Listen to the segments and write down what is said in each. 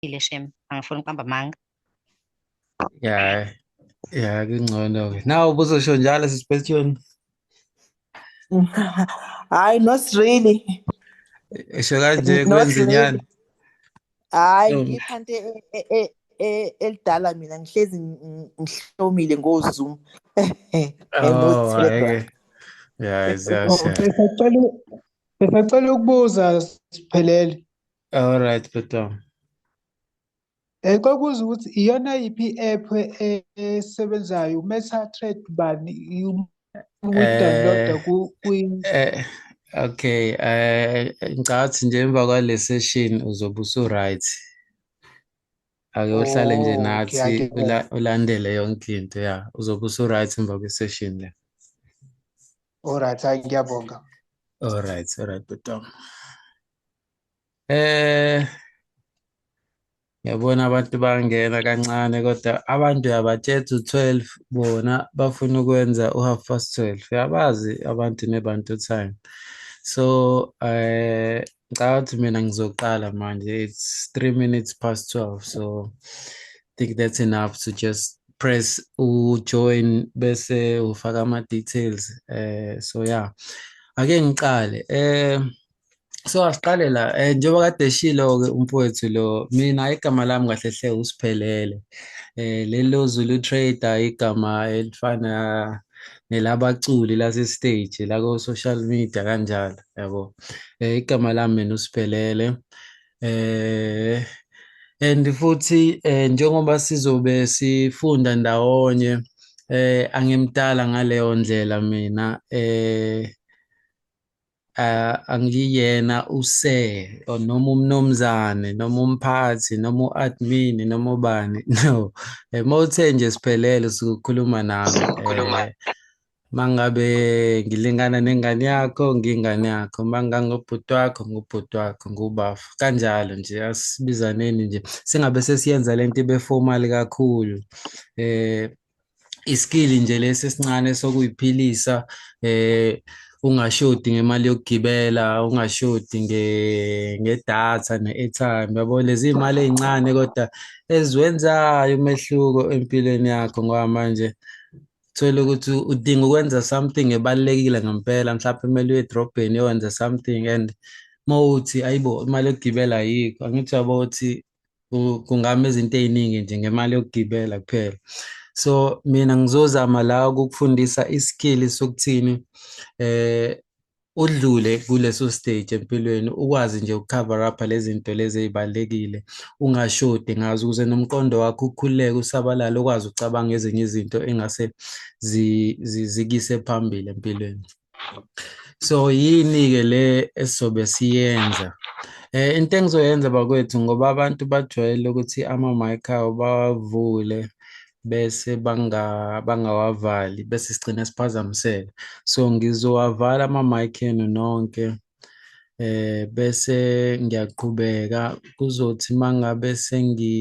uqinisile shem angifuni ukuqamba amanga ya ya kungcono ke nawe ubuzosho njalo sisipesithweni hayi not really esho kanje kwenza inyani hayi ngipha nto e- e- e- e- elidala mina ngihlezi ngi- ngihlomile ngozoom And no Oh, Telegram. hhayi-ke. Ya, ziyasha. Besacela besacela ukubuza siphelele. All right, Bhutam. Eh kwakuza ukuthi iyona yiphi i-app e- esebenzayo uMeta Trade bani u- uyi-download-a Eh, ku kwi eh, okay, eh, ngicathi nje emva kwale session uzobe usu-right. Ake uhlale nje Oh, okay, nathi angibona. ula, ulandele yonke into ya. Uzobe usu-right emva kwe-session le. Alright, hayi ngiyabonga. All right, all right, Bhutam. Eh yabona abantu bangena kancane kodwa abantu uyabatshela u 12 bona bafuna ukwenza u half past 12 uyabazi abantu nebantu time so eh ngicabanga ukuthi mina ngizoqala manje it's 3 minutes past 12 so I think that's enough to just press ujoin bese ufaka ama details eh so yeah ake ngiqale eh so asiqale la um njengoba kade eshilo-ke umfowethu lo mina igama lami kahle hle usiphelele um lelo zulu trader igama elifana nelabaculi lasestage la ko-social media kanjalo yabo um igama lami mina usiphelele um and futhi um njengoba sizobe sifunda ndawonye eh angimdala ngaleyo ndlela mina eh uh, angiyena use or noma umnomzane noma umphathi noma u-admin noma ubani no eh, uma uthe nje siphelele sukukhuluma nami eh, mangabe ngilingana nengane yakho ngingane yakho mangangobhuti wakho ngubhuti wakho ngubafu kanjalo nje asibizaneni nje singabe sesiyenza lento ibe formal kakhulu eh iskili nje lesi esincane sokuyiphilisa eh ungashodi ngemali yokugibela ungashodi nge ngedatha ne-airtime yabo lezi imali ezincane kodwa eziwenzayo umehluko empilweni yakho ngoba manje thola ukuthi udinga ukwenza something ebalekile ngempela mhlawumbe kumele uye edrobheni yokwenza something and mawuthi ayibo imali yokugibela ayikho angithi yabo ukuthi kungami izinto ey'ningi nje ngemali yokugibela kuphela so mina ngizozama la ukukufundisa isikili sokuthini eh udlule kuleso stage empilweni ukwazi nje ukucover up lezi zinto lezi ezibalekile ungashodi ngazo ukuze nomqondo wakho ukhululeke usabalale ukwazi ucabanga ezinye izinto engase zikise phambili empilweni so yini ke le esizobe siyenza eh into engizoyenza bakwethu ngoba abantu bajwayele ukuthi ama mic awo bawavule bese banga bangawavali bese sigcina siphazamiseka so ngizowavala ama mic enu nonke eh bese ngiyaqhubeka kuzothi mangabe sengi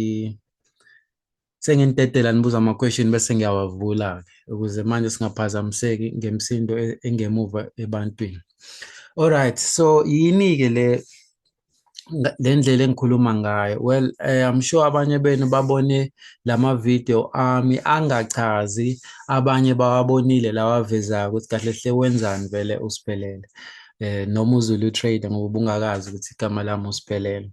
Sengintetela nibuza ama question bese ngiyawavula ke ukuze manje singaphazamiseki ngemsindo e, engemuva ebantwini. Alright, so yini ke le le ndlela engikhuluma ngayo well eh, I'm sure abanye benu babone lama video ami angachazi abanye bawabonile lawavezayo ukuthi kahle hle wenzani vele usiphelele eh noma uzulu trader ngoba ubungakazi ukuthi igama lami usiphelele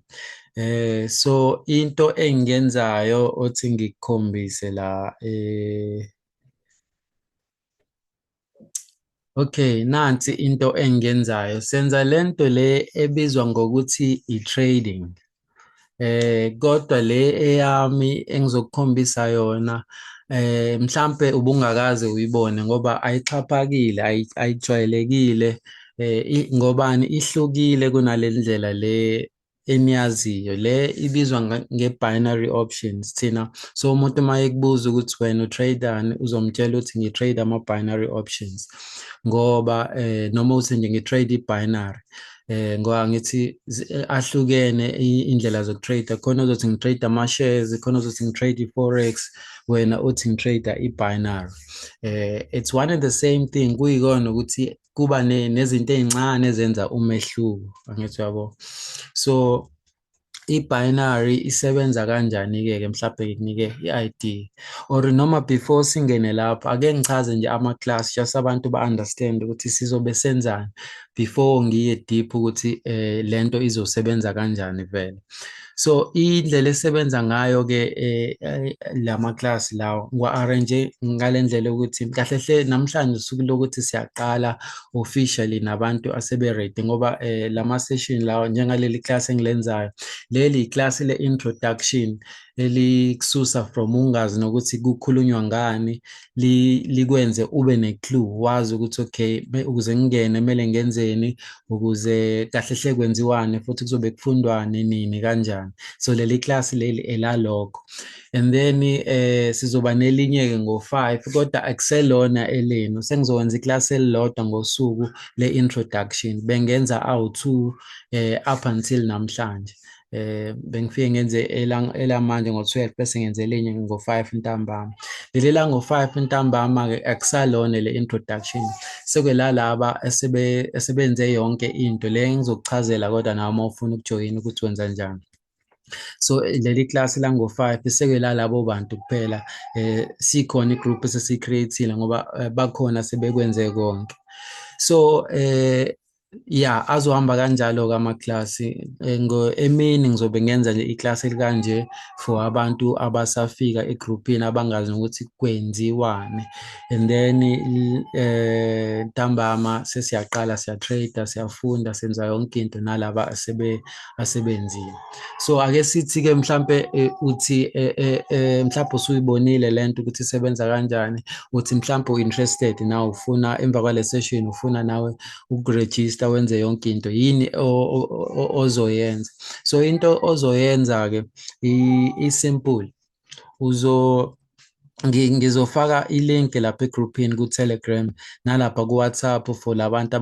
Eh so into engiyenzayo othi ngikukhombise la eh Okay, nansi into engiyenzayo. Senza lento le ebizwa ngokuthi i-trading. Eh kodwa le eyami engizokukhombisa yona eh mhlambe ubungakaze uyibone ngoba ayixhaphakile, ayijwayelekile eh ngobani ihlukile kunalendlela le eniyaziyo le ibizwa nge-binary options thina so umuntu uma ekubuza ukuthi wena utradani uzomtshela ukuthi ngi-trade ama-binary options ngoba eh, noma uthi nje ngi-trade i-binary eh ngoba ngithi eh, ahlukene indlela zokutrade khona uzothi ngitrade ama-shares khona uzothi ngitrade i-forex wena uthi ngitrade i-binary eh it's one and the same thing kuyikona ukuthi kuba nezinto ezincane ezenza umehluko angithi yabo so i-binary isebenza kanjani-ke ke mhlawumbe ngikunike i-id or noma before singene lapho ake ngichaze nje ama-class just abantu ba-understand ukuthi sizobe senzani before ngiye deep ukuthi um le nto izosebenza kanjani vele so indlela esebenza ngayo ke eh, eh, lama class lawo ngwa arrange ngalendlela ukuthi kahle hle namhlanje usuku lokuthi siyaqala officially nabantu asebe ready ngoba eh, lama session lawo njengaleli class engilenzayo leli class le introduction elikususa from ungazi nokuthi kukhulunywa ngani likwenze ube ne-clue wazi ukuthi okay ukuze ngingene kumele ngenzeni ukuze kahle hle kwenziwani futhi kuzobe kufundwani nini kanjani so leli class leli elalokho and then eh sizoba nelinye ke ngo5 kodwa akuselona elenu sengizokwenza iclass elilodwa ngosuku le introduction bengenza awu2 eh up until namhlanje eh bengifike ngenze elamanje ngo-12 bese ngenze elinye ngo-5 ntambama leli lango-5 ntambama-ke akusalona le introduction sekulalaba esebenze yonke into le ngizokuchazela kodwa nawe uma ufuna ukujoyina ukuthi wenza njani so leli class lango-five sekela labo bantu kuphela eh sikhona igroup esesicreatile ngoba eh, bakhona sebekwenze konke so eh ya azohamba kanjalo-ke amaklasi eh, emini ngizobe ngenza nje iklasi elikanje for abantu abasafika egruphini abangazi nokuthi kwenziwani and then eh ntambama sesiyaqala siyatrader siyafunda senza yonke into nalaba asebe asebenzile so ake sithi ke mhlambe eh, uthi eh, mhlawumbe usuyibonile lento ukuthi isebenza kanjani uthi mhlawumbe uinterested na ufuna emva kwale session ufuna nawe ukurejista wenze yonke into yini ozoyenza so into ozoyenza ke isimple uzo ngizofaka i-link lapha egrouphini ku-Telegram nalapha ku-WhatsApp for labantu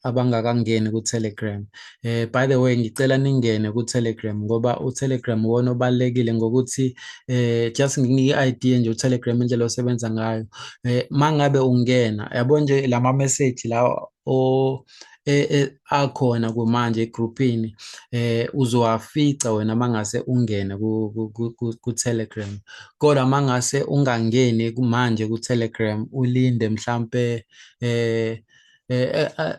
abangakangeni ku-Telegram Eh by the way ngicela ningene ku Telegram ngoba u Telegram wona obalekile ngokuthi eh just nginike idea nje u Telegram indlela osebenza ngayo. Eh mangabe ungena yabo nje lama message la o e, e, akhona kumanje egroupini eh uzowafica wena mangase ungene ku, ku, ku, ku Telegram kodwa mangase ungangeni manje ku Telegram ulinde mhlambe eh, eh, eh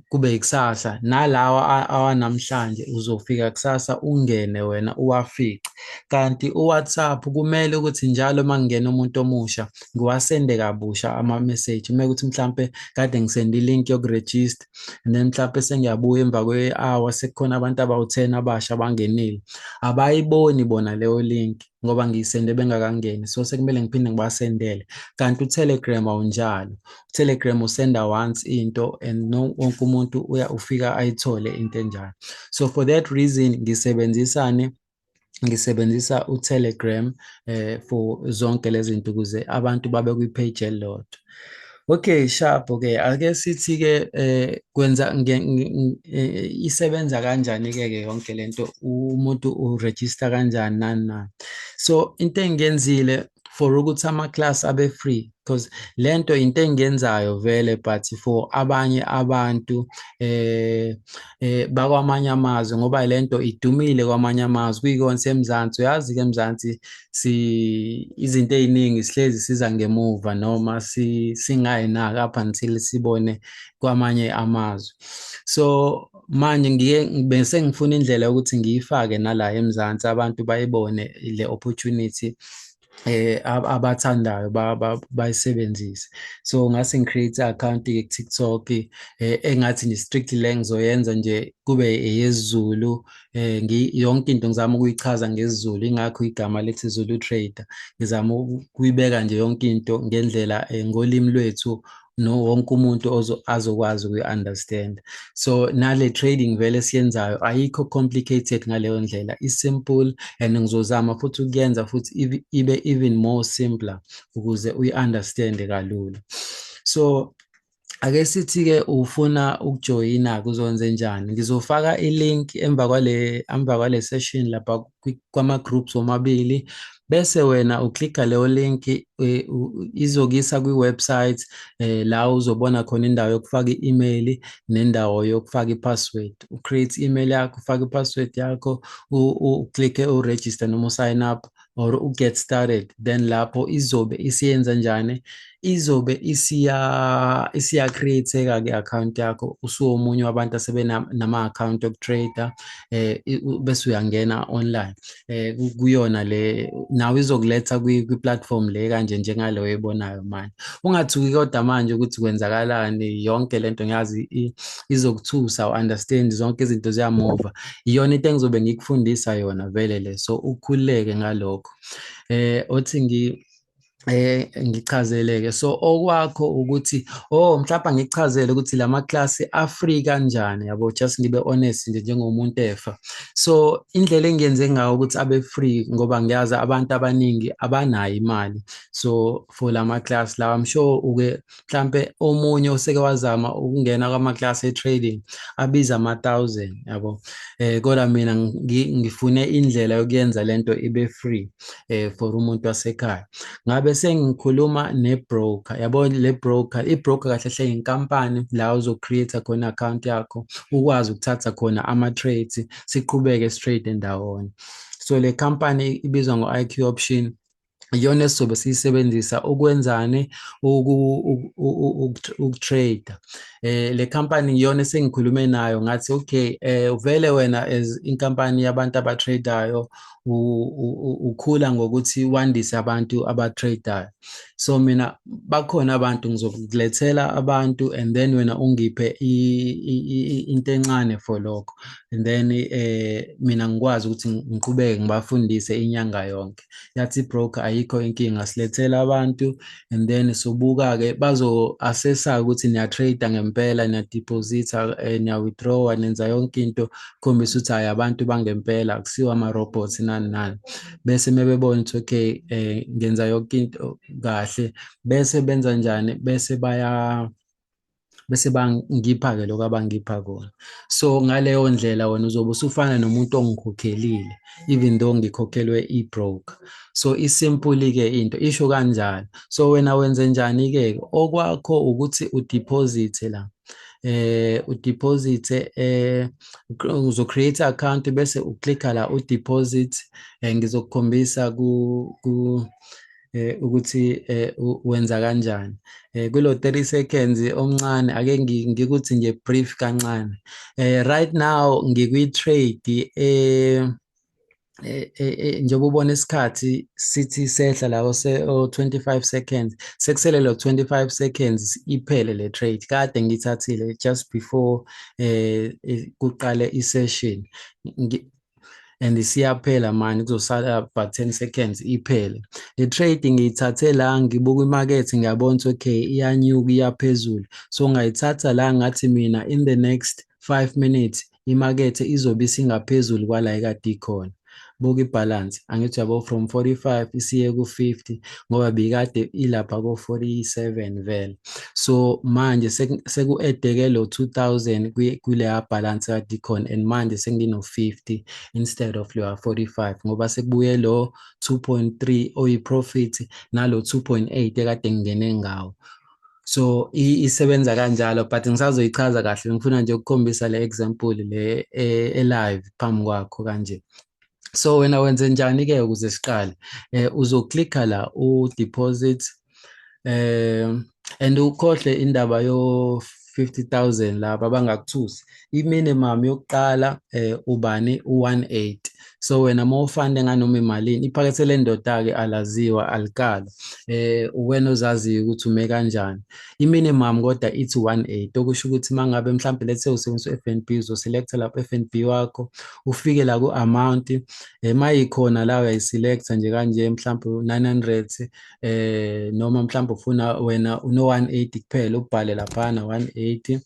kube ikusasa nalawa awanamhlanje uzofika kusasa ungene wena uwafice kanti uWhatsApp kumele ukuthi njalo uma kungena umuntu omusha ngiwasende kabusha ama-message uma ukuthi mhlampe kade ngisende i-link yokurejista and then mhlampe sengiyabuya emva kwe-hour sekukhona abantu abawu-ten abasha abangenile abayiboni bona leyo link ngoba ngiyisende bengakangeni so sekumele ngiphinde ngibasendele kanti utelegram awunjalo utelegram usenda once into and no wonke umuntu uya ufika ayithole into enjalo so for that reason ngisebenzisane ngisebenzisa utelegram eh for zonke lezi zinto ukuze abantu babe kwi-page elilodwa Okay, sharp ke. Ake sithi ke eh kwenza eh, isebenza kanjani ke ke yonke lento umuntu u register kanjani nani na. So into engenzile for ukuthi ama class abe free because lento into engenzayo vele but for abanye abantu eh eh bakwamanye amazwe ngoba lento idumile kwamanye amazwe kuyikona semzansi uyazi ke emzansi si izinto eziningi sihlezi siza ngemuva noma si singayi naka up until sibone kwamanye amazwe so manje ngike bese ngifuna indlela yokuthi ngiyifake nala eMzansi abantu bayibone le opportunity eh abathandayo bayisebenzise so ngase ngicreate account ye TikTok eh, engathi ni strictly le ngizoyenza nje kube eyezulu eh yonke into ngizama ukuyichaza ngesiZulu ingakho igama lethi Zulu Trader ngizama ukuyibeka nje yonke into ngendlela eh, ngolimi lwethu no wonke umuntu azokwazi ukuyi-understand so nale trading vele siyenzayo ayikho complicated ngaleyo ndlela i-simple and ngizozama futhi ukuyenza futhi ibe even more simpler ukuze uyi-understande kalula so ake sithi-ke ufuna ukujoyina kuzonze njani ngizofaka i-link emva kwale emva kwale session lapha kwama-groups womabili bese wena uklikha leyo link e, izokisa kwi-website eh, la uzobona khona indawo yokufaka i-email nendawo yokufaka i-password ucreate i-email yakho ufake i-password yakho uklikke uregister noma usign up or uget started then lapho izobe isiyenza njani izobe isiya isiya createka ke account yakho usuwomunye wabantu asebenama account okutrader eh bese uyangena online eh kuyona le nawe izokuletha kwi platform le kanje njengale oyibonayo manje ungathuki kodwa manje ukuthi kwenzakalani yonke lento ngiyazi izokuthusa u understand zonke izinto ziyamova iyona into engizobe ngikufundisa yona vele le so ukhuleke ngalokho eh othi ngi eh ngichazeleke so okwakho ukuthi oh mhlawumbe ngichazele ukuthi lama class afree kanjani yabo just ngibe honest nje njengomuntu efa so indlela engiyenze ngayo ukuthi abe free ngoba ngiyazi abantu abaningi abanayo imali so for lama class lawa i'm sure uke mhlampe omunye oseke wazama ukungena kwama-class e-trading abiza ama-thousand yabo eh kodwa mina ngifune indlela yokuyenza lento ibe free eh for umuntu wasekhaya ngabe sengikhuluma ne-broker yabo le broker i-broker kahle hle inkampani la uzo-create khona account yakho ukwazi ukuthatha khona ama-trades siqhubeke straight ndawonye so le company ibizwa ngo-IQ option iyona esizobe siyisebenzisa ukwenzani ukutrade eh le company iyona esengikhulume nayo ngathi okay eh uvele wena as inkampani yabantu abatradeayo ukhula ngokuthi wandise abantu abatradeayo so mina bakhona abantu ngizokulethela abantu and then wena ungiphe into encane for lokho and then eh mina ngikwazi ukuthi ngiqhubeke ngibafundise inyanga yonke yathi broker ayikho inkinga silethela abantu and then sobuka ke bazo assessa ukuthi niya trade ngempela niya deposit eh, niya withdraw nenza yonke into khombisa ukuthi hayi abantu bangempela akusiwa ama robots nani nani bese mebebona ukuthi okay eh, ngenza yonke into kahle bese benza njani bese baya bese bangipha-ke lokho abangipha kona so ngaleyo ndlela wena uzobe usufana nomuntu ongikhokhelile even though ngikhokhelwe i-broker so isimpuli-ke into isho kanjalo so wena wenze njani-ke okwakho ukuthi udiphozithe la eh udeposit eh uzo create account bese uclicka la udeposit eh, ngizokukhombisa ku eh ukuthi eh wenza kanjani eh kulo 30 seconds omncane ake ngikuthi nje brief kancane eh right now ngikwi trade eh, eh, eh, eh njengoba ubona isikhathi sithi sehla la ose 25 seconds sekusele lo 25 seconds iphele le trade kade ngithathile just before eh kuqale i session and isiyaphela manje kuzosala about 10 seconds iphele le trade ngiyithathe la ngibuka imarket ngiyabona ukuthi okay iyanyuka iyaphezulu so ngayithatha la ngathi mina in the next 5 minutes imakethe izobe isingaphezulu kwala ekade ikhona buka ibalance angithi yabo from 45 isiye ku-50 ngoba bikade ilapha ko-47 vele so manje seku-edeke lo 2000 kuleya balance kadicon and manje sengino-50 instead of leya 45 ngoba sekubuye lo 2.3 oyi-profit nalo 2.8 ekade ngingene ngawo so isebenza kanjalo but ngisazoyichaza kahle ngifuna nje ukukhombisa le example le e-live phambi kwakho kanje so wena wenze njani ke ukuze siqale eh uzoklikha la u deposit eh and ukhohle indaba yo 50000 laba bangakuthusi iminimum yokuqala eh ubani u18 so wena mawufande nganoma imalini iphakethe lendoda ke alaziwa alikala eh uwena ozaziyo ukuthi ume kanjani I-minimum kodwa ithi 180 okusho ukuthi uma ngabe mhlawumbe lethe usebenzisa u-F and B uzoselekta lapho u-F and B wakho ufike la ku-amount um eh, uma yikhona la uyayiselekta nje kanje mhlawumbe u-nine hundred um eh, noma mhlawumbe ufuna wena uno-one eighty kuphela ubhale laphana one eighty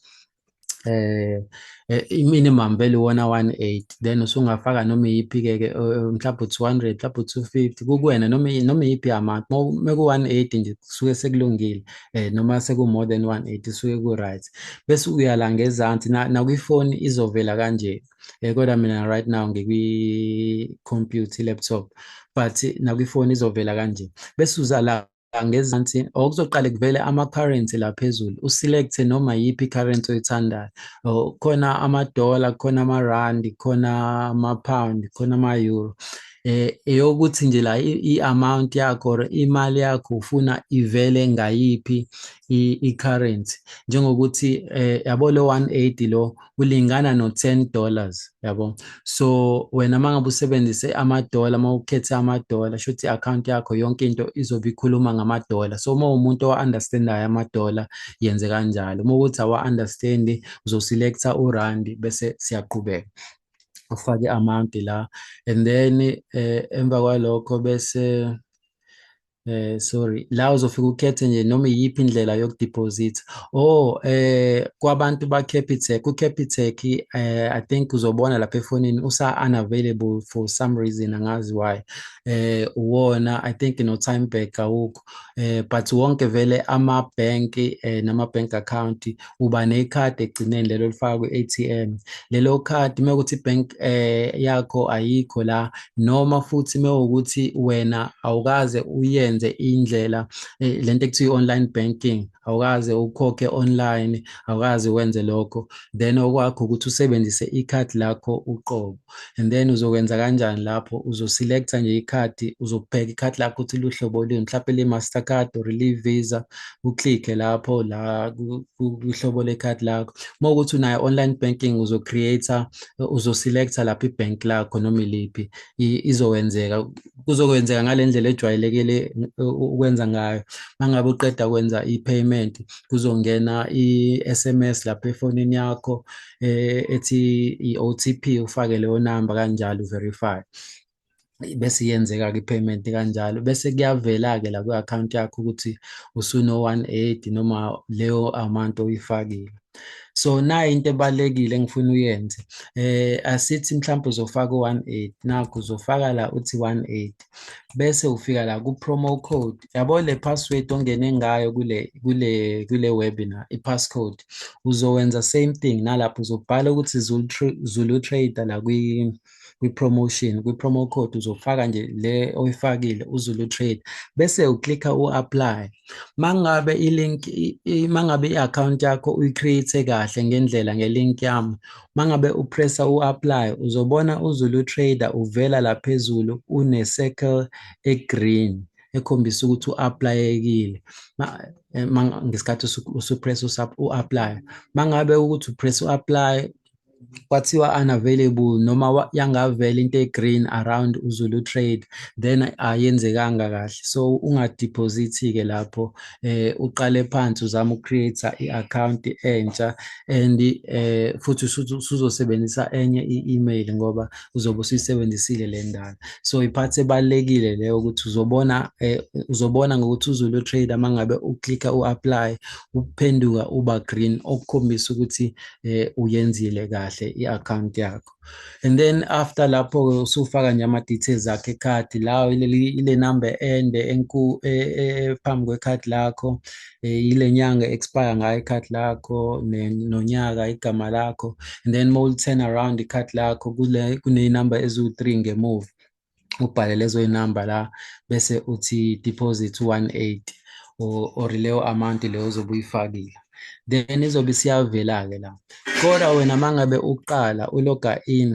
eh, eh i-minimum vele wona 18 then usungafaka noma iyiphi ke ke mhlawumbe 200 mhlawumbe 250 kukuwena noma noma iyiphi amount uma ku 180 nje kusuke sekulungile eh noma seku more than 180 suke ku right bese uya la ngezansi na kwifoni izovela kanje eh kodwa mina right now ngikwi computer laptop but na kwifoni izovela kanje bese uza la ngezansi or kuzoqale kuvele ama-currency la phezulu uselect-e noma yiphi i-currency oyithandayo or khona amadola khona amarandi khona ama-pound khona ama-euro eh eyokuthi nje la i-amount yakho or imali yakho ufuna ivele ngayiphi i-currency njengokuthi eh yabo lo 180 lo kulingana no 10 dollars yabo so wena mangabe usebenzise ama dollar mawukhethe ama dollar shothi account yakho yonke into izobe ikhuluma ngama dollar so uma umuntu owa understandayo ama dollar yenze kanjalo uma ukuthi awa understand uzoselecta u rand bese siyaqhubeka ufake amount la and then eh, emva kwalokho bese Eh sorry la uzofika ukhethe nje noma iyiphi indlela yokudeposit oh eh kwabantu ba Capitec ku Capitec eh I think uzobona lapha efonini usa unavailable for some reason angazi why eh uwona I think no time back awukho eh but wonke vele ama bank eh nama bank account uba nekhadi ekugcineni lelo lifaka kwi-ATM lelo khadi uma ukuthi ibank eh yakho ayikho la noma futhi uma ukuthi wena awukaze uyenze indlela eh, lento ekuthiwa i-online banking awukaze ukhokhe online awukaze wenze lokho then okwakho ukuthi usebenzise ikhadi lakho uqobo and then uzokwenza kanjani lapho uzoselecta nje ikhadi uzokubheka ikhadi lakho ukuthi luhlobo luni mhlawumbe le-master card or le-visa uclikhe lapho la kuhlobo lekhadi lakho uma ukuthi unayo online banking uzocreator uzoselecta lapho ibhank lakho noma iliphi izowenzeka kuzokwenzeka ngale ndlela ejwayelekile ukwenza ngayo uma ngabe uqeda kwenza i-payment kuzongena i-s m s lapho efonini yakho eh, ethi i-OTP ufake leyo number kanjalo verify bese yenzeka-ke i-payment kanjalo bese kuyavela-ke la kwi-akhawunti yakho ukuthi usuno-one eighty noma leyo amount oyifakile so nayo into ebalulekile engifuna uyenze eh asithi mhlawumbe uzofaka u-one eighty nakho uzofaka la uthi one eighty bese ufika la ku promo code yabo le password ongene ngayo kule kule kule webinar i passcode uzowenza same thing nalapho uzobhala ukuthi Zulu Zulu Trader la kwi kwi-promotion kwi-promo code uzofaka nje le oyifakile uzulu trade bese uklikha u-apply mangabe ilink mangabe i-account yakho uyicreate kahle ngendlela ngelink yami mangabe upressa u-apply uzobona uzulu trader uvela la phezulu une-circle e-green ekhombisa ukuthi u-aplayekile eh, ngesikhathi usupress u-apply mangabe ukuthi upress u-apply kwathiwa unavailable noma yangavela into e-green around uzulu trade then ayenzekanga kahle so ungadeposit-ke lapho eh uqale phansi uzama ucreate i-account entsha and eh futhi usuzosebenzisa enye i-email ngoba uzobe usuyisebenzisile le ndala so iphathi ebalekile leyo ukuthi uzobona eh, uzobona ngokuthi uzulu trader mangabe uclicka uapply uphenduka uba green okukhombisa ukuthi eh uyenzile kahle i-account yakho and then after lapho-ke usufaka nje ama-details akho ekhadi lawo ile number ende enkulu e, e, e, phambi kwekhadi lakho yile nyanga expire ngayo ikhadi lakho nonyaka igama lakho and then mawuli-turn around ikhadi lakho kuney'number eziwu-three ngemuva ubhale lezo zinamba la bese uthi deposit 18 or or leyo amount leyo ozobe uyifakile then izobe isiyavela ke la kodwa wena mangabe uqala uloga in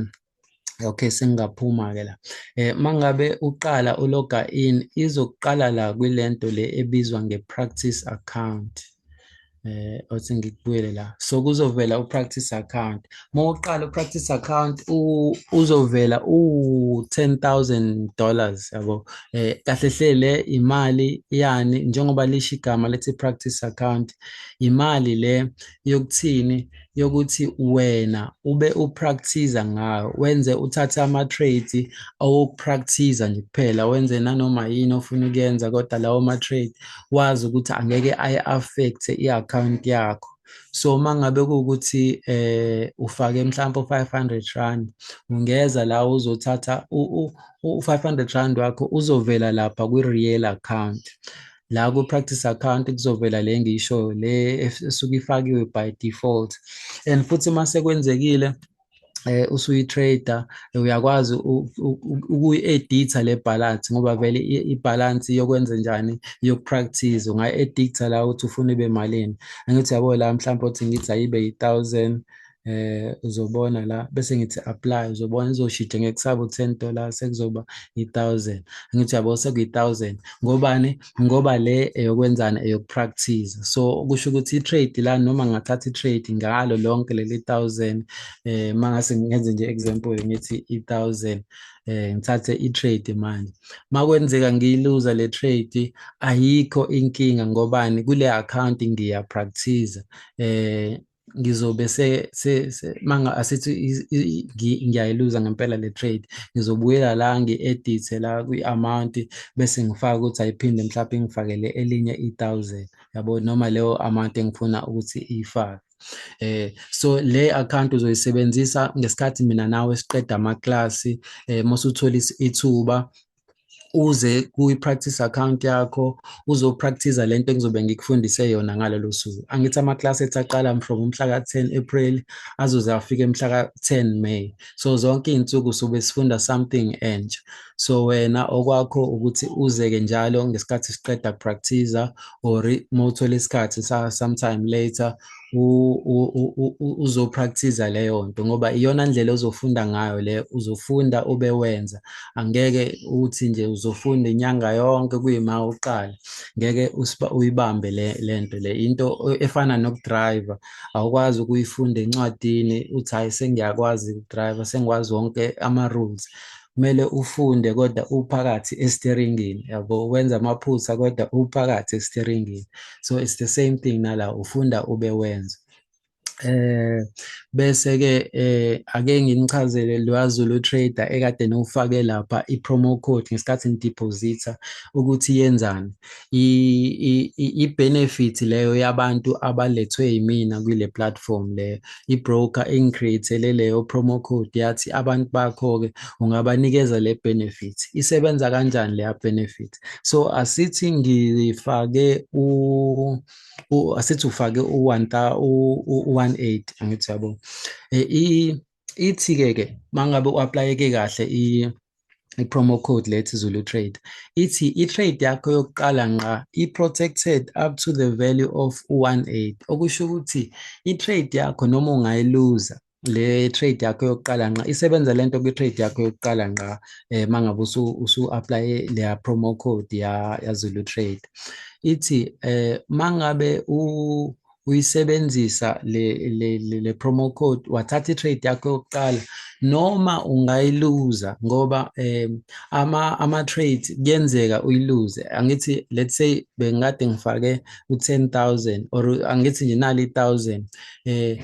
okay sengaphuma ke la eh mangabe uqala uloga in izokuqala la kwilento le ebizwa ngepractice account eh othi ngikubuyele la so kuzovela upractice account mawuqala upractice account uzovela u 10000 dollars yabo eh kahle hlele imali yani njengoba lisho igama lethi practice account imali le yokuthini yokuthi wena ube upractice ngayo wenze uthathe ama trades awupractice nje kuphela wenze nanoma yini ofuna ukuyenza kodwa lawo ma trade wazi ukuthi angeke ayi affect i account yakho so uma ngabe kuwukuthi eh ufake mhlawumbe 500 rand ungeza la uzothatha u 500 rand wakho uzovela lapha kwi real account la ku-practice account kuzovela le ngisho le esuke ifakiwe by default and futhi uma sekwenzekile eh usuyi-trader uyakwazi ukuyi-editha le balance ngoba vele i-balance yokwenza njani yokupractice ungayi-editha la ukuthi ufuna ibe malini angithi yabo la mhlawumbe othi ngithi ayibe yi-thousand eh uzobona la bese ngithi apply uzobona izoshitsha ngekusaba u10 dollars sekuzoba i1000 ngithi yabo sekuyi1000 ngobani ngoba le eyokwenzana eyokupractice so kusho ukuthi itrade la noma ngathatha itrade ngalo lonke leli 1000 eh mangase ngenze nje example ngithi i1000 eh ngithathe i-trade manje makwenzeka ngiyiluza le trade ayikho inkinga ngobani kule account ngiya practice eh ngizobe se se manga asithi ngiyayiluza ngempela le trade ngizobuyela la ngi-edithe la kwi-amount bese ngifaka ukuthi ayiphinde mhlawumbe ngifakele elinye i-thousand yabo noma leyo amount engifuna ukuthi iyifake eh so le account uzoyisebenzisa ngesikhathi mina nawe siqeda amaklasi eh mosuthola ithuba uze kuyi-practice account yakho uzopractice le nto engizobe ngikufundise yona ngalelo suku angithi ama-class ethi aqala from umhla ka-10 april azoze afike mhla ka-10 may so zonke iy'nsuku sobe sifunda something entsha so wena okwakho ukuthi uzeke njalo ngesikhathi siqeda kupractiza or uma uthole isikhathi sometime later uzopractice leyo nto ngoba iyona ndlela ozofunda ngayo le uzofunda ube wenza angeke uthi nje uzofunda inyanga yonke kuyima uqala ngeke uyibambe le lento le into efana nokudriver awukwazi ukuyifunda encwadini uthi hayi sengiyakwazi ukudriver sengikwazi wonke ama rules kumele ufunde kodwa uphakathi esiteringini yabo wenza amaphutha kodwa uphakathi esiteringini so it's the same thing nala ufunda ube wenza eh bese ke eh ake nginichazele lwazulu trader ekade nowufake lapha ipromo code ngesikhathi ngideposita ukuthi yenzani i-benefit leyo yabantu abalethwe yimina kule platform leyo i-broker engicreatele leyo promo code yathi abantu bakho-ke ungabanikeza le benefit isebenza kanjani leya benefit so asithi ngifake u asithi ufake u-1 u-180 angithi yabo um ithi ke ke mangabe uapplyeke kahle i i-promo code lethi Zulu Trade ithi i-trade yakho yokuqala nqa i-protected up to the value of 18 okusho ukuthi i-trade yakho noma ungayiluza le trade yakho yokuqala nqa isebenza lento kwi trade yakho yokuqala nqa eh mangabe usu usu apply le promo code ya ya Zulu Trade ithi eh mangabe u uyisebenzisa le le le, le promo code wathatha itrade yakho yokuqala noma ungayiluza ngoba um ama ama trade kuyenzeka uyiluze angithi let's say bengikade ngifake u10000 or angithi nje nali 1000 eh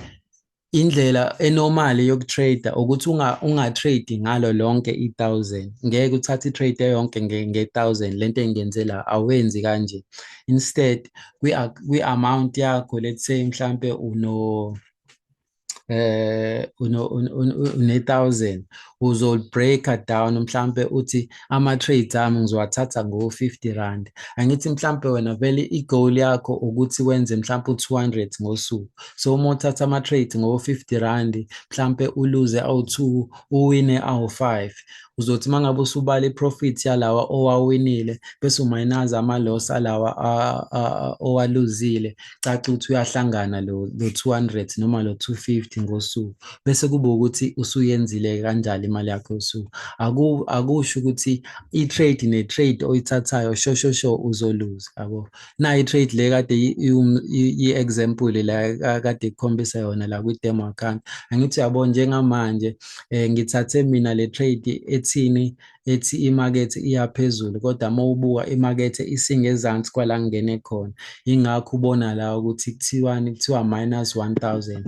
indlela enormally yokutrader ukuthi unga ungatrade ngalo lonke i1000 ngeke uthathe itrade yonke nge1000 lento engenze la awenzi kanje instead kwi kwi amount yakho let's say mhlambe uno eh une 1000 uzol breaker down mhlambe uthi ama-trades ami ngizowathatha ngo-fifty rand angithi mhlawumpe wena vele i-goal yakho ukuthi wenze mhlawumpe u-two hundred ngosuku so uma uthatha ama-trades ngo-fifty rand mhlawumpe uluze awu-two uwine awu-five uzothi uma ngabe usubala i-profit yalawa owawinile bese umayinaza ama-loss alawa owaluzile kucaca ukuthi uyahlangana lo lo 200 noma lo 250 ngosuku bese kube ukuthi usuyenzile kanjalo imali yakho yosuku aku akusho ukuthi i trade ne trade oyithathayo shosho sho uzoluza yabo na i trade le kade i example la kade ikhombisa yona la kwi demo account angithi yabo njengamanje eh ngithathe mina le trade ethini ethi imakethe iyaphezulu kodwa uma ubuka imakethe isingezansi kwala ngingene khona ingakho ubona la ukuthi kuthiwani kuthiwa minus 1000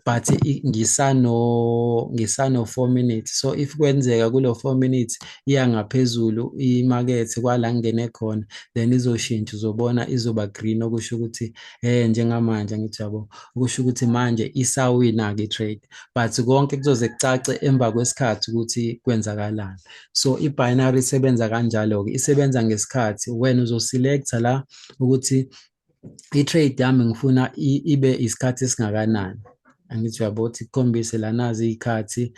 but ngisano ngisano 4 minutes so if kwenzeka kulo 4 minutes iya ngaphezulu imakethe kwala ngingene khona then izoshintsha uzobona izoba green okusho ukuthi eh njengamanje ngithi yabo kusho ukuthi manje isawina ke trade but konke kuzoze kucace emva kwesikhathi ukuthi kwenzakalani so i-binary isebenza kanjalo-ke isebenza ngesikhathi wena uzoselecta la ukuthi i-trade yami ngifuna ibe isikhathi esingakanani angithi uyabo ukuthi kukhombise lanazi iy'khathi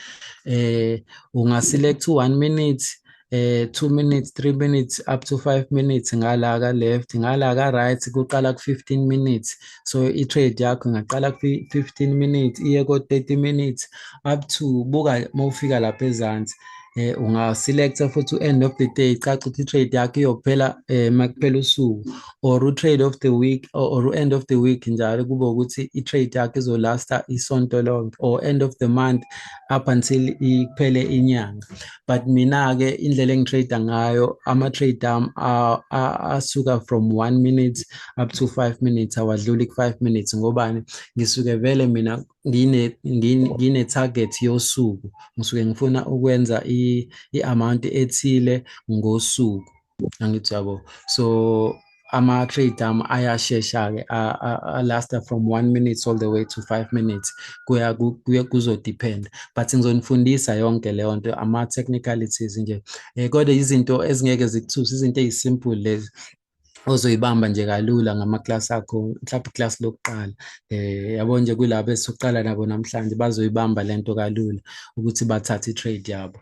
um ungaselect u-one minute eh 2 minutes 3 minutes up to 5 minutes ngala ka left ngala ka right kuqala ku 15 minutes so i trade yakho ngaqala ku 15 minutes iye ko 30 minutes up to buka mawufika lapha ezansi eh ungaselecta futhi u-end of the day caca ukuthi i-trade yakho iyophela eh makuphela usuku or u-trade of the week or, or u-end of the week njalo kube ukuthi i-trade yakho izolasta isonto lonke or end of the month up until iphele inyanga but mina-ke indlela engitrade ngayo ama-trade am asuka from one minute up to five minutes awadluli ku-five minutes ngobani ngisuke vele mina ngine-target yosuku ngisuke ngifuna ukwenza i-amount ethile ngosuku angithi yabo so ama-trade am ayashesha-ke alasta from one minutes all the way to five minutes kuya kuzodependa but ngizonifundisa yonke leyo nto ama-technicalities nje um eh, kodwa izinto ezingeke zikuthuse izinto eyisimple lezi ozoyibamba nje kalula ngamaklasi akho mhlawumbe iklasi lokuqala eh yabo nje kulabo esokuqala nabo namhlanje bazoyibamba lento kalula ukuthi bathathe itrade yabo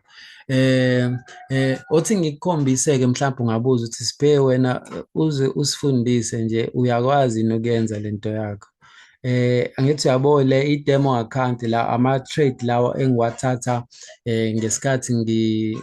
Eh eh othi ngikukhombise ke mhlawumbe ungabuza ukuthi siphe wena uze usifundise nje uyakwazi nokuyenza lento yakho. Eh angithi uyabo le i demo account la ama trade lawo engiwathatha eh ngesikhathi ngi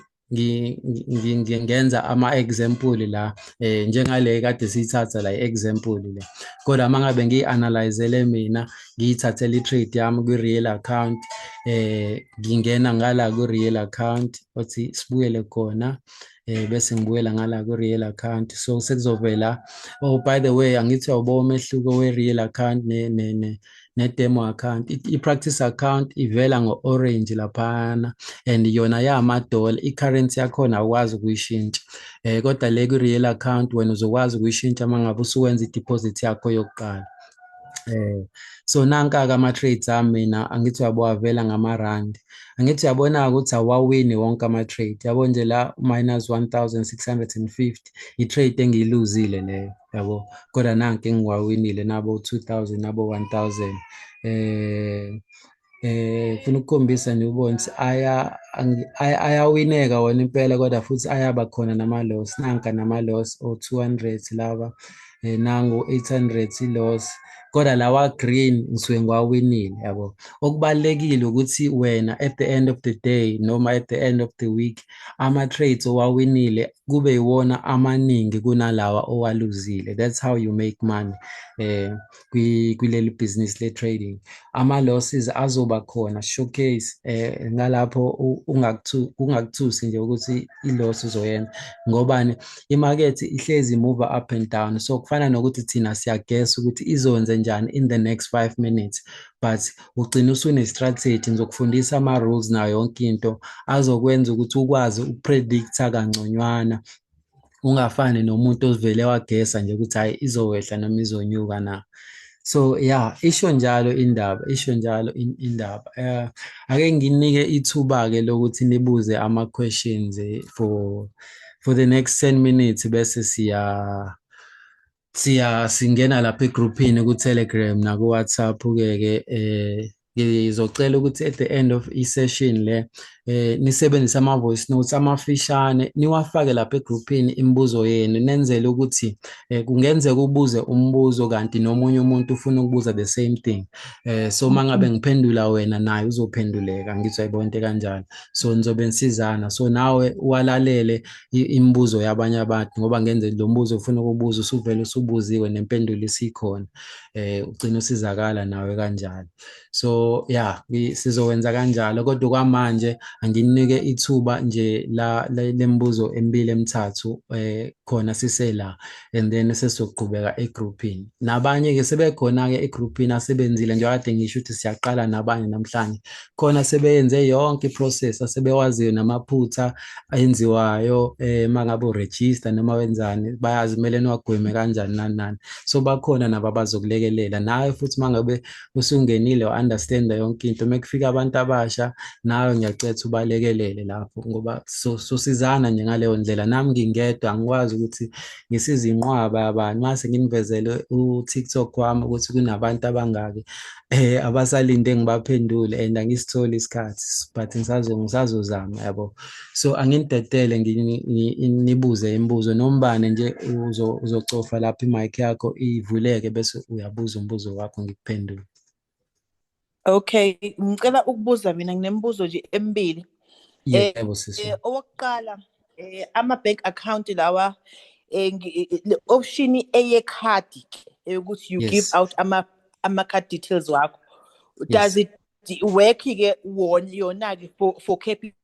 ngenza ama-example la um njengale kade siyithatha la i-example le kodwa uma ngabe ngiyi-analyzele mina ngiyithathela i-trade yami kwi-real account eh ngingena ngala kwi-real account othi sibuyele khona eh bese ngibuyela ngala kwi-real account so sekuzovela oh by the way angithi awubo umehluko we-real account ne ne ne ne-demo account i-practice account ivela ngo-orange laphana and yona yamadola i-currency yakhona awukwazi ukuyishintsha um kodwa le kwi-real account wena uzokwazi ukuyishintsha uma ngabe usuwenza i-deposit yakho yokuqala eh so nanka-ke ama-trades ami mina angithi uyabowavela ngamarandi angithi uyabona-ke ukuthi awawini wonke ama-trade yabo nje la minus 1650 i-trade engiyiluzile leyo yabo kodwa nanke engiwawinile nabo 2000 nabo 1000 eh eh funa ukukhombisa nje ubone ukuthi aya ayawineka wona impela kodwa futhi ayaba khona nama loss nanka nama loss o 200 laba eh, nangu 800 loss kodwa lawa green ngisuke ngiwawinile yabo okubalekile ukuthi wena at the end of the day noma at the end of the week ama trades owawinile kube iwona amaningi kunalawa owaluzile that's how you make money eh kuleli business le trading ama losses azoba khona showcase eh ngalapho ungakuthu ungakuthusi nje ukuthi i loss uzoyenza ngobani i market ihlezi move up and down so kufana nokuthi thina siyagesa ukuthi izonze njani in the next 5 minutes but ugcina usune strategy ngizokufundisa ama rules nayo yonke into azokwenza ukuthi ukwazi ukupredicta kangconywana ungafani nomuntu ovele wagesa nje ukuthi hhayi izowehla noma izonyuka na so ya isho njalo indaba isho njalo indaba um ake nginike ithuba-ke lokuthi nibuze ama-questions eh, for for the next 10 minutes bese siya siya singena lapha egrouphini ku-telegram naku-whatsapp ke-ke eh ngizocela ukuthi at the end of i-session le eh nisebenzise ama-voice notes amafishane niwafake lapha egrouphini imibuzo yenu nenzele ukuthi eh, kungenzeka ubuze umbuzo kanti nomunye umuntu ufuna ukubuza the same thing eh so mangabe mm-hmm. ngiphendula wena naye uzophenduleka ngizwa ibonke kanjalo so nizobe nisizana so nawe walalele imibuzo yabanye abantu ngoba ngenze lo mbuzo ufuna ukubuza usuvele usubuziwe nempendulo isikhona eh ugcina usizakala nawe kanjalo so yeah sizowenza kanjalo kodwa kwamanje anginike ithuba nje la lembuzo emibili emithathu eh khona sisela and then sesizoqhubeka egroupini nabanye-ke sebekhona-ke egroupini asebenzile njengoba kade ngisho ukuthi siyaqala nabanye namhlanje khona sebeyenze yonke iprocess asebewaziyo namaphutha enziwayo um eh, uma ngabe uregister noma wenzani bayazi kumele niwagweme kanjani nani nani so bakhona nabo abazokulekelela nawe futhi uma ngabe usungenile wa-understanda yonke into uma kufika abantu abasha nawe ngiyacetha ubalekelele lapho ngoba sosizana nje ngaleyo ndlela nami ngingedwa angikwazi ukuthi ngisize inqwaba yabani mase nginivezele u-tiktok wami ukuthi kunabantu abangaki um abasalinde ngibaphendule and angisitholi isikhathi but ngisazozama yabo so anginidedele nginibuze imibuzo nombane nje uzocofa lapho imic yakho ivuleke bese uyabuza umbuzo wakho ngikuphendule okay ngicela ukubuza mina nginemibuzo nje emibili eh, yebo sisi eh, owokuqala eh, ama-bank account lawa le option eyekhadi ke eyokuthi you give out ama-card details wakho does it work-ke yona-ke for capita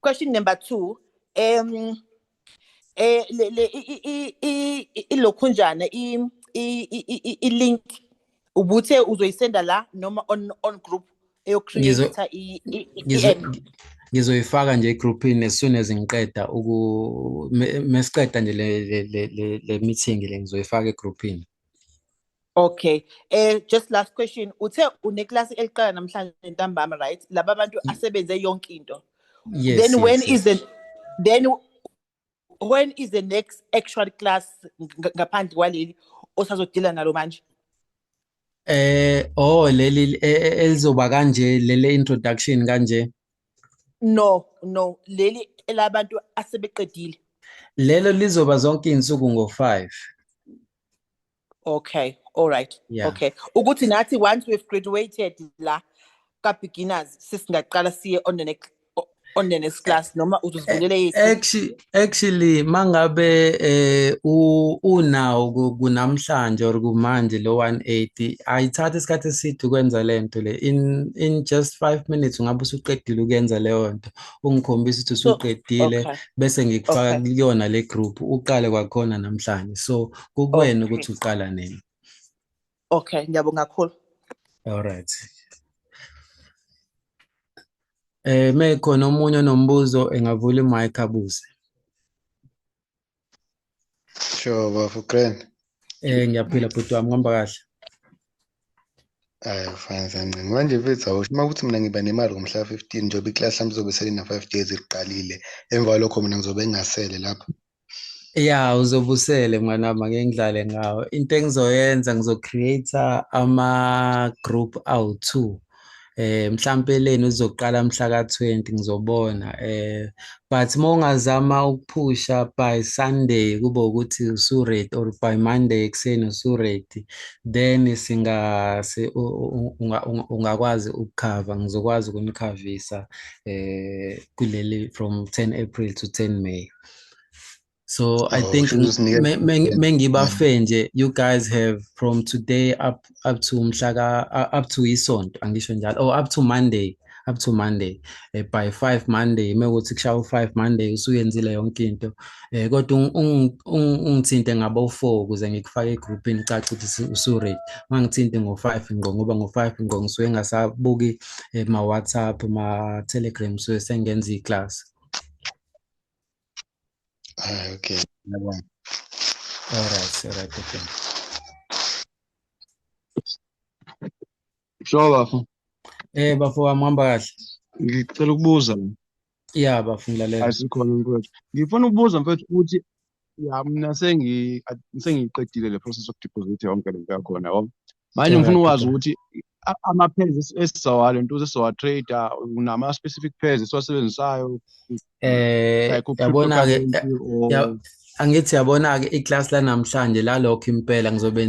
question number 2 um eh le le ilokhunjana i i link ubuthe uzoyisenda la noma on on group eyocreate i ngizoyifaka nje egroupini as soon as ngiqeda uku mesiqeda nje le le le meeting le ngizoyifaka egroupini Okay. Eh just last question. Uthe uneklasi eliqala namhlanje ntambama right? Laba abantu asebenze yonke into. Yes. Then yes, when yes. is the then when is the next actual class ngaphandle kwaleli osazodila nalo manje? Eh oh leli e, e, elizoba kanje lele introduction kanje. No, no, leli elabantu asebeqedile. Lelo lizoba zonke insuku ngo 5. okay all right yeah. okay ukuthi nathi once we've graduated la ka beginners sisingaqala siye on the next on the next class noma uzozivulele yethu actually actually mangabe eh unawo kunamhlanje or kumanje lo 180 ayithatha isikhathi eside ukwenza lento le in in just 5 minutes ungabe usuqedile ukwenza leyo nto ungikhombisa ukuthi usuqedile bese ngikufaka kuyona le group uqale kwakhona namhlanje so kukuwena okay. ukuthi uqala nini okay ngiyabonga kakhulu all right eh mekhona omunye onombuzo engavula imic abuze sure bafo grand eh ngiyaphila bhuti wami ngihamba kahle Ayi fine sancinci. Manje mfethu awusho uma kuthi mina ngiba nemali ngomhla 15 njengoba iklasi lami lizobe selina 5 days liqalile. Emva kwalokho mina ngizobe ngingasele lapho. Ya uzobusele mwana wami ake ngidlale ngawo. Into engizoyenza ngizocreate ama group awu-2. Eh mhlambe leni uzoqala mhla ka-20 ngizobona. Eh but uma ungazama ukuphusha by Sunday kube ukuthi usuready or by Monday ekuseni usuready then singa ungakwazi ukukhava ngizokwazi ukunikhavisa eh kuleli from 10 April to 10 May. so oh, i think mengibafe nje you guys have from today up up to mhlaka uh, up to isonto angisho njalo or oh, up to monday up to monday eh, by 5 monday mekuthi kushaya u5 monday usuyenzile yonke into eh kodwa ungithinte ngabo u4 kuze ngikufake egroupini caca ukuthi usuready mangithinte ngo5 ngqo ngoba ngo5 ngqo ngisuke ngasabuki eh, ma WhatsApp ma Telegram so sengenza iclass Ah, okay. Ngiyabonga. All right, all right, okay. Sure bafo. Eh bafo wami uhamba kahle. Ngicela ukubuza. Yeah bafo ngilalela. Asikhona mfethu. Ngifuna ukubuza mfethu ukuthi ya mina sengi sengiqedile le process of deposit yonke lento yakhona yabo manje ngifuna ukwazi ukuthi ama-pairs esizowa le nto esizowa trader unama-specific pairs esiwasebenzisayo eh yabona-ke angithi yabona-ke iklasi lanamhlanje lalokho impela ngizobe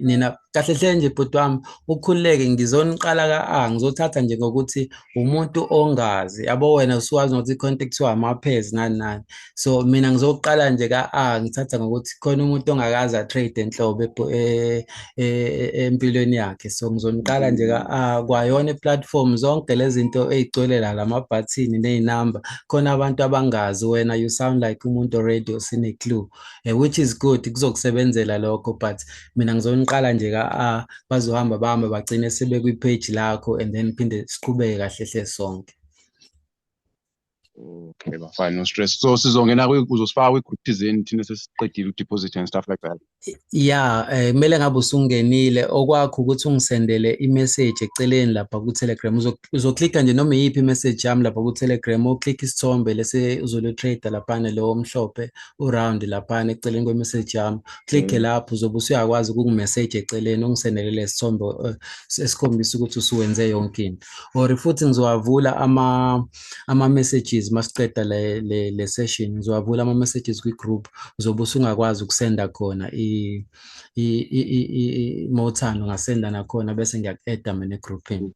nina kahle hle nje bhuti wami ukhululeke ngizoniqala ka-a ngizothatha nje ngokuthi umuntu ongazi yabo wena usuwazi nokuthi ikhonto kuthiwa amaphezi nani nani so mina ngizoqala nje ka-a ngithatha ngokuthi khona umuntu ongakaze atrade enhlobo e, e, e, empilweni yakhe so ngizoniqala nje ka-a kwayona iplatform zonke lezi zinto ey'gcwele la lamabhathini ney'namba khona abantu abangazi wena you sound like umuntu already osine-clue eh, which is good kuzokusebenzela lokho but mina ngizoniqala nje ka a ah, bazohamba bahamba bagcine sebekwi page lakho and then phinde siqhubeke kahle hle sonke okay bafana no stress so sizongena uzosifaka kwi-group thizeni thina sesiqedile u-deposit and stuff like that ya eh, kumele ngabe usungenile okwakho ukuthi ungisendele i-message eceleni lapha ku-telegram uzoklikha nje noma iyiphi i-message yami lapha ku-telegram oklikha isithombe lese uzolo-trader laphana lowo mhlophe u-round laphana eceleni kwe-message yami click mm. lapho uzobe usuyakwazi ukukumeseji eceleni ungisenele lesithombe eh, esikhombisa ukuthi usuwenze yonke into or futhi ngizowavula ama ama messages masiqeda le le, le session ngizowavula ama messages kwi group uzobe usungakwazi ukusenda khona i i i, i, i mothando ngasenda nakhona bese ngiyakueda mina egroupini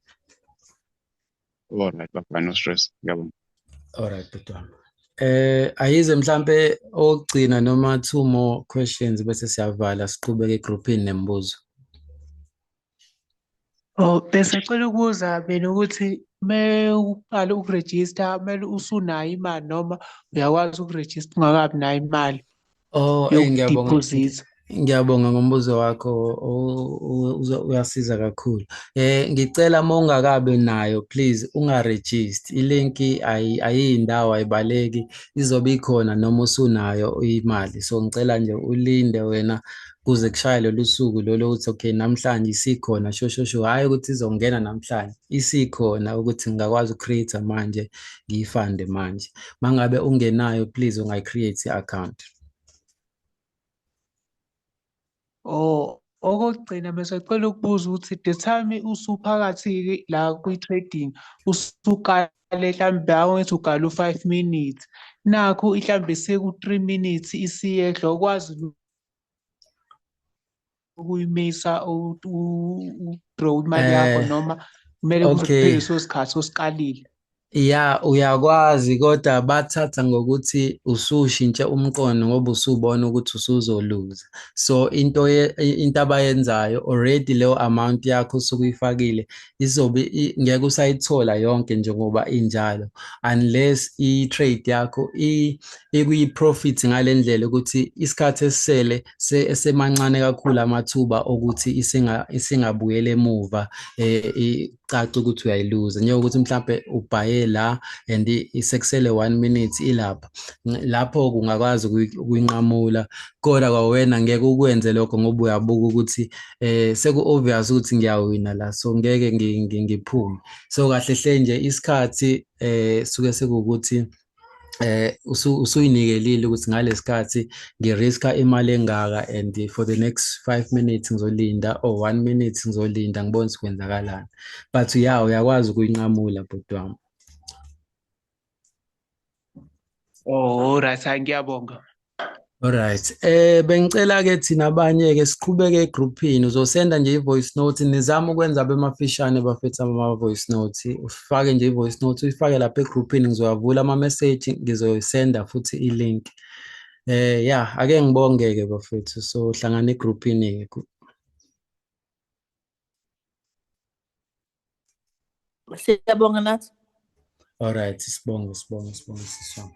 Alright baba no stress. Ngiyabonga. Alright bhuti wami. Eh ayize mhlambe ogcina noma two more questions bese siyavala siqhubeke egroupini nemibuzo. Oh bese cela ukubuza mina ukuthi me uqala ukuregister kumele usunayo imali noma uyakwazi ukuregister ungakabi nayo imali. Oh, eh, ngiyabonga. Yokudeposit. Ngiyabonga ngombuzo wakho u- u- uzo- uyasiza kakhulu. Eh ngicela uma ungakabi nayo please ungaregister. Ilink ayi ayindawo ayibaleki izobe ikhona noma usunayo imali. So ngicela nje ulinde wena kuze kushaye lolu suku lolo ukuthi okay namhlanje isikhona sho sho sho hhayi ukuthi izongena namhlanje isikhona ukuthi ngingakwazi uku-create-a manje ngiyifande manje uma ngabe ungenayo please ungayi-create i-account Oh, okokugcina besacela ukubuza ukuthi the time usuphakathi la kwi-trading usukale hlampe awengithi ugale u-five minutes nakho ihlambe seku-three minutes isiyehla ukwazi ukuyimisa udraw imali yakho eh, noma kumele kuphele so sikhathi osiqalile ya uyakwazi kodwa bathatha ngokuthi usushintshe umqondo ngoba usubona ukuthi usuzoluza so into into abayenzayo already leyo amount yakho usukuyifakile izobe ngeke usayithola yonke njengoba injalo unless i-trade yakho ikuyi-profit ngale ndlela ukuthi isikhathi esisele esemancane kakhulu amathuba okuthi isingabuyela emuva um caca ukuthi uyayiluza njengokuthi mhlawumbe ubhaye la and isekusele one minute ilapha lapho kungakwazi ukuyinqamula koda kwawena ngeke ukwenze lokho ngoba uyabuka ukuthi eh seku obvious ukuthi ngiyawina la so ngeke ngiphume so kahle hle nje isikhathi eh suke sekukuthi eh usuyinikelile ukuthi ngalesikhathi ngiriska imali engaka and for the next 5 minutes ngizolinda or 1 minute ngizolinda ngibone sikwenzakalana but uyawo uyakwazi ukuyinqamula bhuti wami Oh right ngiyabonga. Alright. Eh bengicela ke thina abanye ke siqhubeke egroupini uzosenda nje ivoice note nizama ukwenza bemafishane bafethu ama voice note ufake nje ivoice note uyifake lapha egroupini ngizowavula ama message ngizoyisenda futhi ilink. Eh yeah ake ngibonge ke bafethu so hlangana egroupini ke. Siyabonga nathi. All right, sibonge sibonge sibonge sisonke.